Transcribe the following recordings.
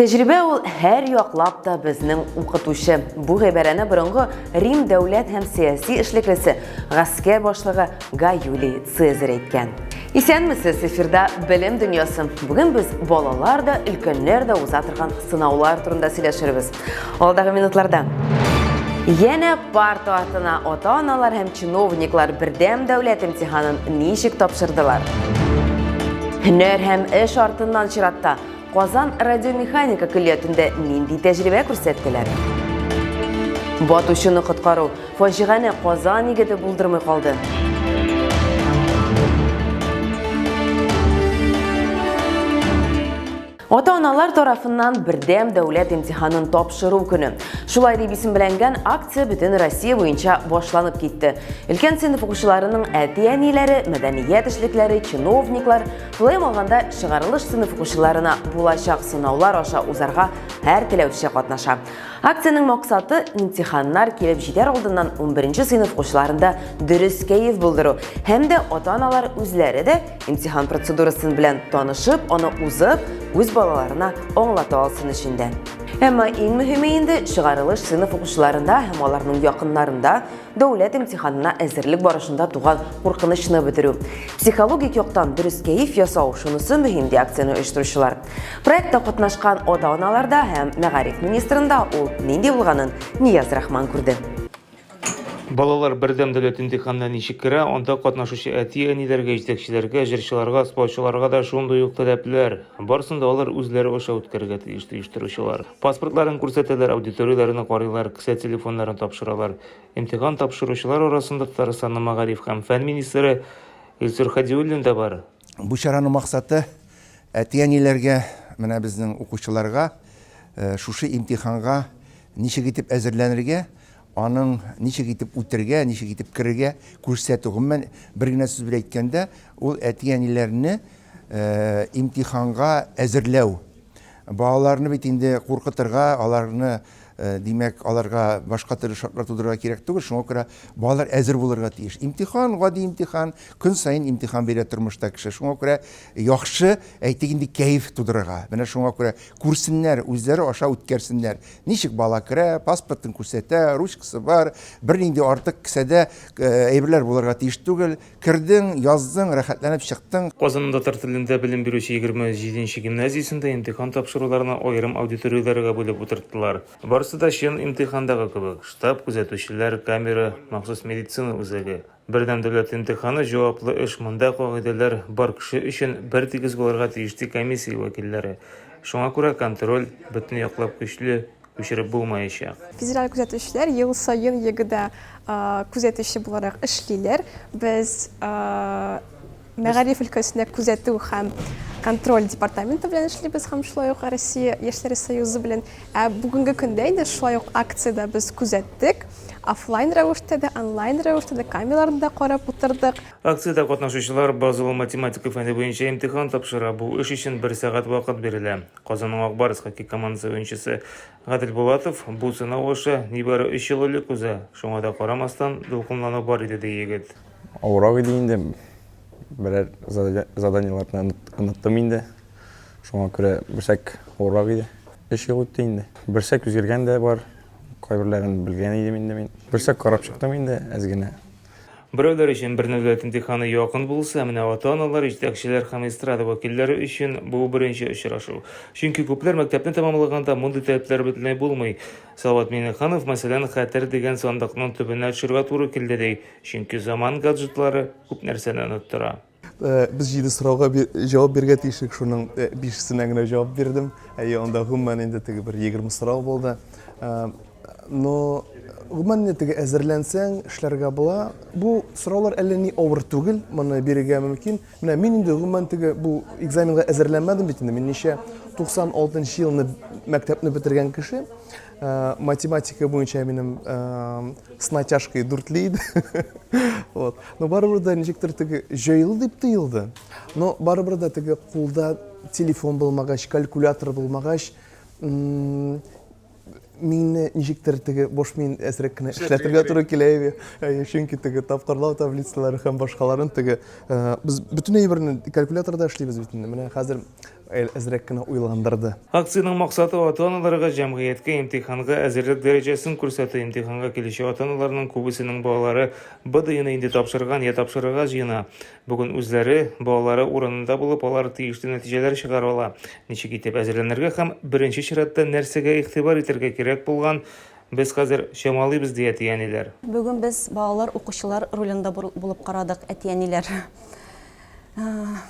Тәҗрибә ул һәр яклап та безнең укытучы. Бу гыйбарәне борынгы Рим дәүләт һәм сәяси эшлеклесе, гаскәр башлыгы Гай Юлий Цезарь әйткән. Исәнмесез, эфирда Белем дөньясы. Бүген без балалар да, өлкәннәр дә уза торган сынаулар турында сөйләшербез. Алдагы минутларда Янә парта артына ата-аналар һәм чиновниклар бердәм дәүләт имтиханын ничек тапшырдылар? Һөнәр һәм эш артыннан чиратта Казан радиомеханика көллиятендә нинди тәҗрибә күрсәттеләр? Батучыны коткару фаҗигане Казан егете булдырмый калды. Ата-аналар тарафыннан бердәм дәүләт имтиханын тапшыру көне. Шулай дип исемләнгән акция бөтен Россия буенча башланып китте. Өлкән сыйныф укучыларының әти-әниләре, мәдәният эшлекләре, чиновниклар, Шулай алганда чыгарылыш сыйныф укучыларына булачак сынаулар аша узарга һәр теләүче катнаша. Акциянең максаты имтиханнар килеп җитәр алдыннан 11 сыйныф укучыларында дөрес кәеф булдыру һәм дә ата-аналар үзләре дә имтихан процедурасын белән танышып, аны узып, үз балаларына аңлата алсын өчен дә. Әмма иң мөһиме инде чыгарылыш сыйныф укучыларында һәм аларның якыннарында Дәүләт имтиханына әзерлек барышында туган куркынычны бетерү. Психологик яктан дөрес кәеф ясау шунысы мөһим ди акцияне оештыручылар. Проектта катнашкан ата-аналарда һәм мәгариф министрында ул нинди булганын Нияз Рахман күрде. Балалар бердәм дәүләт имтиханына ничек керә, анда катнашучы әти-әниләргә, җитәкчеләргә, җырчыларга, спортчыларга да шундый ук таләпләр. Барысын да алар үзләре аша үткәрергә тиеш, ди оештыручылар. Паспортларын күрсәтәләр, аудиторияләрне карыйлар, кесә телефоннарын тапшыралар. Имтихан тапшыручылар арасында Татарстанның мәгариф һәм фән министры Илсур Хәдиуллин да бар. Бу чараның максаты, әти-әниләргә, менә безнең укучыларга шушы имтиханга ничек итеп әзерләнергә, Аның ничек итеп үтергә, ничек итеп керергә күрсәтү. Гомумән, бер генә сүз белән әйткәндә, ул әти-әниләрне имтиханга әзерләү. Балаларны бит инде куркытырга, аларны, димәк, аларга башка төрле шартлар тудырырга кирәк түгел, шуңа күрә балалар әзер булырга тиеш. Имтихан, гади имтихан, көн саен имтихан бирә тормышта кеше. Шуңа күрә яхшы, әйтик инде, кәеф тудырырга. Менә шуңа күрә күрсеннәр, үзләре аша үткәрсеннәр. Ничек бала керә, паспортын күрсәтә, ручкасы бар, бернинди артык кесәдә әйберләр булырга тиеш түгел. Кердең, яздың, рәхәтләнеп чыктың. Казанның татар телендә белем бирүче егерме җиденче гимназиясендә имтихан тапшыруларны аерым аудиторияләргә бүлеп утырттылар. Барысы да чын имтихандагы кебек, штаб, күзәтүчеләр, камера, махсус медицина үзәге. Бердәм дәүләт имтиханы, җаваплы эш, монда кагыйдәләр бар кеше өчен бертигез булырга тиеш, ди комиссия вәкилләре. Шуңа күрә контроль бөтен яклап көчле, күчереп булмаячак. Федераль күзәтүчеләр ел саен ЕГЭда күзәтүче буларак эшлиләр. Без Мәгариф өлкәсендә күзәтү һәм контроль департаменты белән эшлибез һәм шулай ук Россия яшьләре союзы белән. Ә бүгенге көндә инде шулай ук акциядә без күзәттек. Офлайн рәвештә дә, онлайн рәвештә дә камераларны да карап утырдык. Акциядә катнашучылар базовый математика фәне буенча имтихан тапшыра. Бу эш өчен бер сәгать вакыт бирелә. Казанның Ак Барс хоккей командасы уенчысы Гадел Булатов, Бу сынау аша нибары өч ел элек уза, шуңа да карамастан, дулкынлану бар иде, ди егет. Авырак иде инде. Берәр заданиеләрне оныттым инде. Шуңа күрә берсәк авырак иде. Өч ел үтте инде. Берсәк үзгәргән дә бар. Кайберләрен белгән идем инде мин. Берсәк карап чыктым инде әз генә. Берәүләр өчен бер нәүләт имтиханы якын булса, менә ата-аналар, җитәкчеләр һәм эстрада вәкилләре өчен бу беренче очрашу. Чөнки күпләр мәктәпне тәмамлаганда мондый таләпләр бөтенләй булмый. Салават Миңнеханов, мәсәлән, Хәтер дигән сандыкның төбенә төшәргә туры килде, ди. Чөнки заман гаджетлары күп нәрсәне оныттыра. Без җиде сорауга җавап бирергә тиеш идек, шуның бишесенә генә җавап бирдем. Әйе, анда гомумән инде теге бер егерме сорау булды. Но гомумән инде теге әзерләнсәң, эшләргә була. Бу сораулар әллә ни авыр түгел, моны бирергә мөмкин. Менә мин инде гомумән теге бу экзаменга әзерләнмәдем бит инде. Мин ничә 96 елны мәктәпне бетергән кеше. Э, математика буенча минем э, с натяжкой дүртле иде вот но барыбер да ничектер теге җайлы дип тоелды но барыбер да теге кулда телефон булмагач калькулятор булмагач мине ничектер теге бош мин әзрәк кенә эшләтергә туры килә иде э, чөнки теге тапкырлау таблицалары һәм башкаларын теге без бөтен әйберне калькуляторда эшлибез бит инде менә хәзер Әл әзрәк кенә уйландырды. Акциянең максаты ата-аналарга җәмгыятькә имтиханга әзерлек дәрәҗәсен күрсәтү. Имтиханга килүче ата-аналарның күбесенең балалары БДИны инде тапшырган я тапшырырга җыена. Бүген үзләре, балалары урынында булып, алар тиешле нәтиҗәләр чыгара ала. Ничек итеп әзерләнергә һәм беренче чиратта нәрсәгә игътибар итәргә кирәк булган без хәзер чамалыйбыз, ди әти-әниләр. Бүген без балалар укучылар ролендә булып карадык, әти-әниләр.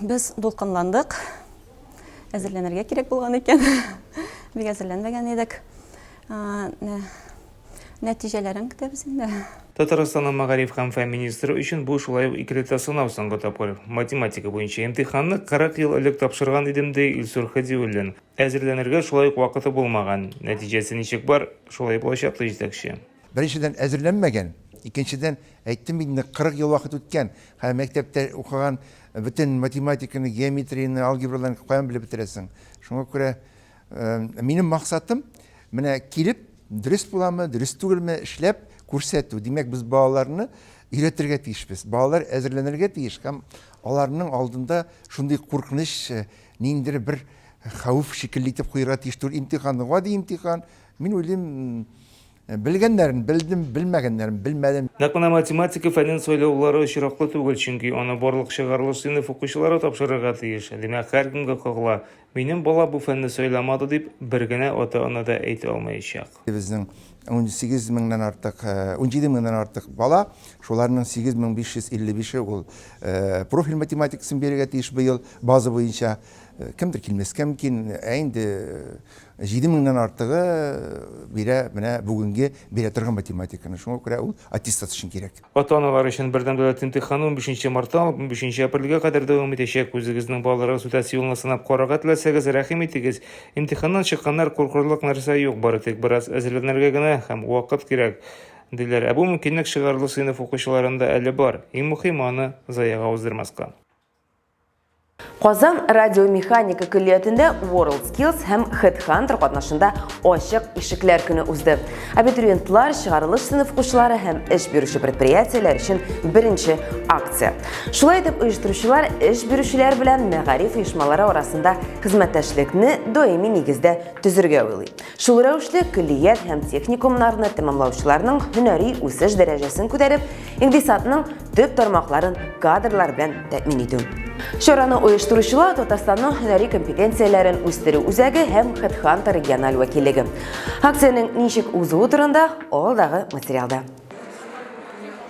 Без дулкынландык. Әзерләнергә кирәк булган икән. Бик әзерләнмәгән идек. Нәтиҗәләрен көтәбез инде. Татарстанның мәгариф һәм фән министры өчен бу шулай ук икеләтә сынау соңгы тапкыр. Математика буенча имтиханны 40 ел элек тапшырган идем, ди Илсур Хәдиуллин. Әзерләнергә шулай ук вакыты булмаган. Нәтиҗәсе ничек бар, шулай булачак, ди җитәкче. Беренчедән, әзерләнмәгән. Икенчедән, әйттем бит инде, 40 ел вакыт үткән. Һәм мәктәптә укыган бөтен математиканы, геометрияне, алгебраларны каян белеп бетерәсең? Шуңа күрә минем максатым, менә килеп, дөрес буламы, дөрес түгелме, эшләп күрсәтү. Димәк, без балаларны өйрәтергә тиешбез. Балалар әзерләнергә тиеш һәм аларның алдында шундый куркыныч, э, ниндидер бер хәвеф шикелле итеп куярга тиеш түгел. Имтихан, гади имтихан. Мин уйлыйм, Белгәннәрен белдем, белмәгәннәрен белмәдем. Нәкъ менә математика фәнен сайлаулары очраклы түгел, чөнки аны барлык чыгарылыш сыйныф укучылары тапшырырга тиеш. Димәк, һәркемгә кагыла. Минем бала бу фәнне сайламады, дип бер генә ата-ана да әйтә алмаячак. Безнең унсигез меңнән артык, унҗиде меңнән артык бала, шуларның 8555-е ул профиль математикасын бирергә тиеш быел, база буенча. Кемдер килмәскә мөмкин, ә инде. Җиде меңнән артыгы бирә менә бүгенге бирә торган математиканы. Шуңа күрә ул аттестат өчен кирәк. Ата-аналар өчен бердәм дәүләт имтиханы унбишенче мартта алып унбишенче апрельгә кадәр дәвам итәчәк. Үзегезнең балаларыгыз үтәсе юлны сынап карарга теләсәгез, рәхим итегез. Имтиханнан чыкканнар, куркырлык нәрсә юк, бары тик бераз әзерләнергә генә һәм вакыт кирәк, диләр. Ә бу мөмкинлек чыгарлы сыйныф укучыларында әле бар. Иң мөхиме аны заяга уздырмаска. Казан радиомеханика көллиятендә WorldSkills һәм HeadHunter катнашында ачык ишекләр көне узды. Абитуриентлар, чыгарылыш сыйныф укучылары һәм эш бирүче предприятиеләр өчен беренче акция. Шулай итеп, оештыручылар эш бирүчеләр белән мәгариф оешмалары арасында хезмәттәшлекне даими нигездә төзергә уйлый. Шул рәвешле көллият һәм техникумнарны тәмамлаучыларның һөнәри үсеш дәрәҗәсен күтәреп, икъдисадның төп тармакларын кадрлар белән тәэмин итү. Чараны оештыручылар Татарстанның һөнәри компетенцияләрен үстерү үзәге һәм Хедхантер региональ вәкиллеге. Акциянең ничек узуы турында алдагы материалда.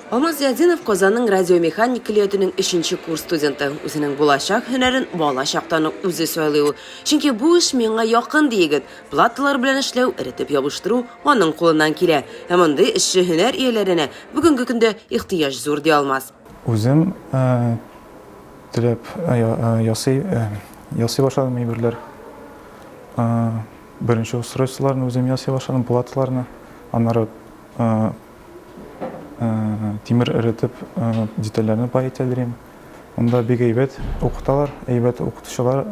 Алмаз Зиятдинов Казанның радиомеханик көллиятенең өченче курс студенты. Үзенең булачак һөнәрен бала чактан ук үзе сайлый ул. Чөнки бу эш миңа якын, ди егет. Платалар белән эшләү, эретеп ябыштыру аның кулыннан килә. Ә мондый эшче һөнәр ияләренә бүгенге көндә ихтыяҗ зур, ди Алмаз. Үзем теләп ясый башладым әйберләр. Беренче устройстволарны үзем ясый башладым, платаларны. Аннары тимер эретеп, детальләрне пай итәлрим. Монда бик әйбәт укыталар, әйбәт укытучылар.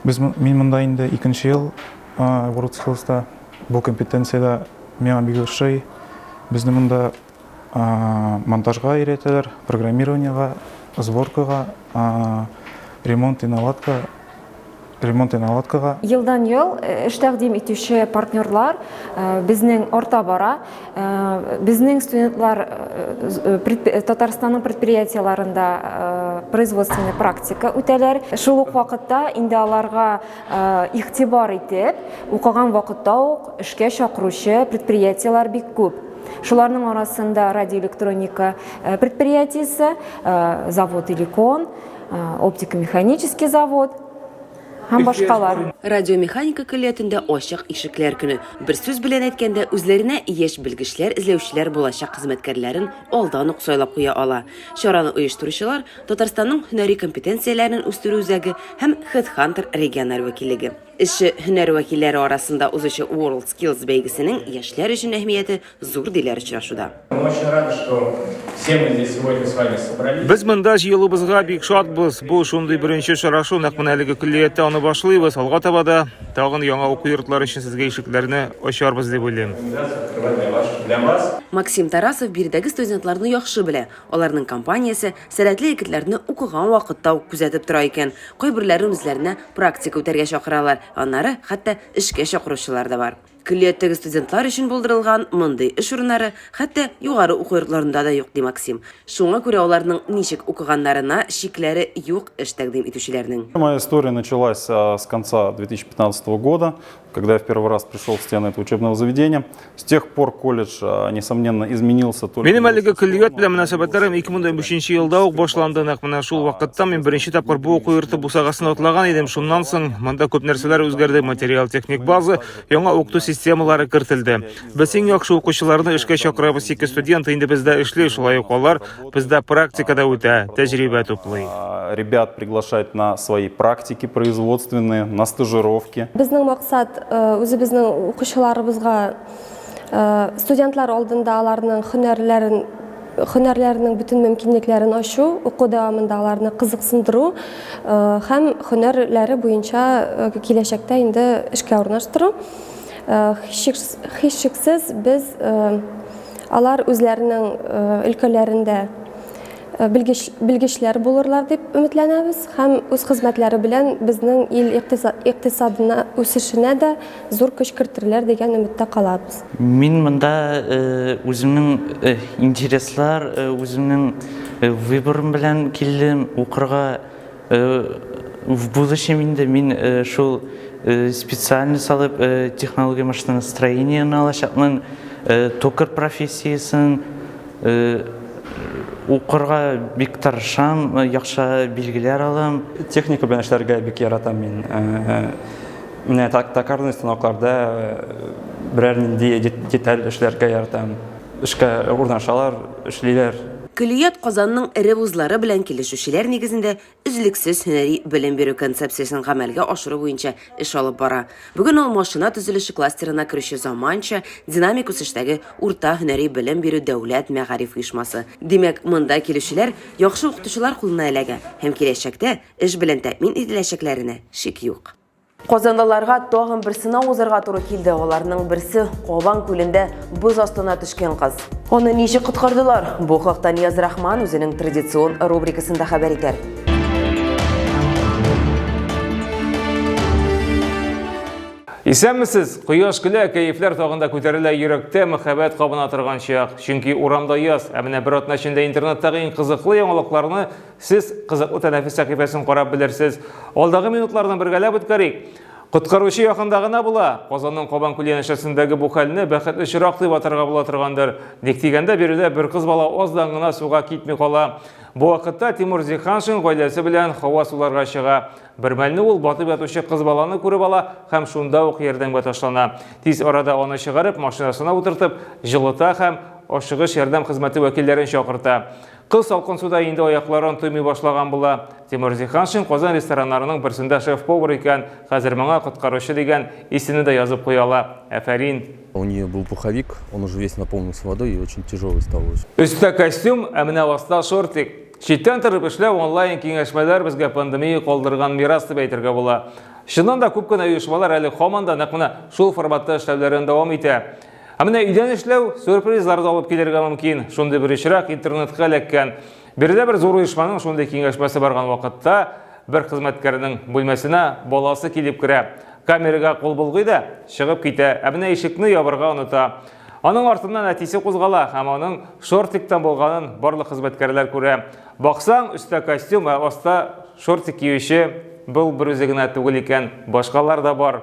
Без мин монда инде икенче ел World Skills-та. Бу компетенциядә миңа бик ошый. Безне монда монтажга өйрәтәләр, программированиега, сборкага, ремонт и наладка Ремонт и наладкага. Елдан-ел эш тәкъдим итүче партнерлар безнең арта бара. Безнең студентлар Татарстанның предприятиеләрендә производственный практика үтәләр. Шул ук вакытта инде аларга игътибар итеп, укыган вакытта ук эшкә чакыручы предприятиеләр бик күп. Шуларның арасында радиоэлектроника предприятиесе, завод Иликон, оптико-механический завод һәм башкалар. Радиомеханика көллиятендә ачык ишекләр көне. Бер сүз белән әйткәндә, үзләренә яшь белгечләр эзләүчеләр булачак хезмәткәрләрен алдан ук сайлап куя ала. Чараны оештыручылар, Татарстанның һөнәри компетенцияләрен үстерү үзәге һәм HeadHunter региональ вәкиллеге. Эшче һөнәр вәкилләре арасында узучы WorldSkills бәйгесенең яшьләр өчен әһмияте Зур, диләр очрашуда. Без монда җыелуыбызга бик шатбыз. Бу шундый беренче очрашу, нәкъ менә әлеге көллияттә аны башлыйбыз. Алга таба да тагын яңа уку йортлары өчен сезгә ишекләрне ачарбыз дип уйлыйм. Максим Тарасов биредәге студентларны яхшы белә. Аларның компаниясе сәләтле егетләрне укыган вакытта ук күзәтеп тора икән. Кайберләрен үзләренә практика үтәргә чакыралар, аннары хәтта эшкә чакыручылар да бар. Көллияттәге студентлар өчен булдырылган мондый эш урыннары хәтта югары уку йортларында да юк, ди Максим. Шуңа күрә аларның ничек укыганнарына чикләре юк эш тәкъдим итүчеләрнең. Моя история началась с конца 2015 года, когда я в первый раз пришел в стены этого учебного заведения. С тех пор колледж А, несомненно, изменился только... Минем әлеге көллият белән мөнәсәбәтләрем 2015 елда ук башланды. Нәкъ менә шул вакытта мин беренче тапкыр бу уку йорты бусагасын атлаган идем. Шуннан соң монда күп нәрсәләр үзгәрде. Материал-техник база, яңа укыту системалары кертелде. Без иң яхшы укучыларны эшкә чакырабыз. Ике студент инде бездә эшли, шулай ук алар бездә практикада үтә, тәҗрибә туплый. А, ребят приглашать на свои практики производственные, на стажировки. Безнең максат э, үзебезнең укучыларыбызга студентлар алдында аларның һөнәрләрен һөнәрләренең бөтен мөмкинлекләрен ачу, уку дәвамында аларны кызыксындыру һәм һөнәрләре буенча киләчәктә инде эшкә урнаштыру. Һичшиксез без алар үзләренең өлкәләрендә белгеч белгечләр булырлар дип өметләнәбез һәм үз хезмәтләре белән безнең ил икътисадына үсешенә дә Зур көч кертерләр дигән өметтә калабыз. Мин монда үземнең интереслар, үземнең выборым белән килдем укырга. В будущем инде мин шул специальность алып технология машиностроениене алачакмын. Токарь профессиясен укырга бик тырышам, яхшы билгеләр алам. Техника белән эшләргә бик яратам мин. Менә так, токарный станокларда э, берәр нинди деталь эшләргә ярдәм. Эшкә урнашалар, эшлиләр. Көллият Казанның эре вузлары белән килешүчеләр нигезендә өзлексез һөнәри белем бирү концепциясен гамәлгә ашыру буенча эш алып бара. Бүген ул машина төзелеше кластерына керүче заманча, динамик үсештәге урта һөнәри белем бирү дәүләт мәгариф оешмасы. Димәк, монда килүчеләр яхшы укытучылар кулына эләгә һәм киләчәктә эш белән тәэмин ителәчәкләренә шик юк. Казанлыларга тагын бер сынау узарга туры килде. Аларның берсе Кабан күлендә боз астына төшкән кыз. Аны ничек коткардылар? Бу хакта Нияз Рахман үзенең традицион рубрикасында хәбәр итәр. Исәнмесез! Кояш көлә, кәефләр тагында күтәрелә, йөрәктә мәхәббәт кабына торган чак. Чөнки урамда яз, ә менә бер атна эчендә интернеттагы иң кызыклы яңалыкларны Сез кызыклы тәнәфес сәхифәсен карап белерсез. Алдагы минутларны бергәләп үткәрик. Коткаручы якында гына була. Казанның Кабан күле янәшәсендәге бу хәлне бәхетле чирак дип атарга була торгандыр. Ник дигәндә, биредә бер кыз бала аздан гына суга китми кала. Бу вакытта Тимур Зиханшин гаиләсе белән һава суларга чыга. Бермәлне ул батып ятучы кыз баланы күреп ала һәм шунда ук ярдәмгә ташлана. Тиз арада аны чыгарып, машинасына утыртып, җылыта һәм ашыгыч ярдәм хезмәте вәкилләрен чакырта. Кыз салкын суда инде аякларын тоймый башлаган була. Тимур Зиханшин Казан рестораннарының берсендә шеф-повар икән, хәзер моңа коткаручы дигән исемне дә язып куя ала. Афәрин! У нее был пуховик, он уже весь наполнился водой и очень тяжелый стал очень. Өстә костюм, ә менә аста шортик. Читтән торып эшләү, онлайн киңәшмәләр безгә пандемия калдырган мирас дип әйтергә була. Чыннан да күп кенә оешмалар әле һаман да нәкъ менә шул форматта эшләүләрен дәвам итә. Ә менә өйдән эшләү сюрпризлар да алып килергә мөмкин. Шундый бер очрак интернетка эләккән. Биредә бер зур оешманың шундый киңәшмәсе барган вакытта бер хезмәткәрнең бүлмәсенә баласы килеп керә. Камерага кул болгый да чыгып китә. Ә менә ишекне ябырга оныта. Аның артыннан әтисе кузгала һәм аның шортиктан булганын барлык хезмәткәрләр күрә. Баксаң, өстә костюм, ә аста шортик киюче был бер үзе генә түгел икән, башкалар да бар.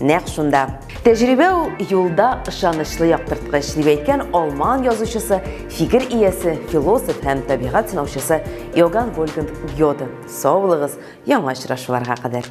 нәкъ шунда. Тәҗрибә ул юлда ышанычлы яктырткыч, дип әйткән алман язучысы, фикер иясе, философ һәм табигать сынаучысы Иоганн Вольганд Гёде. Сау булыгыз, яңа очрашуларга кадәр.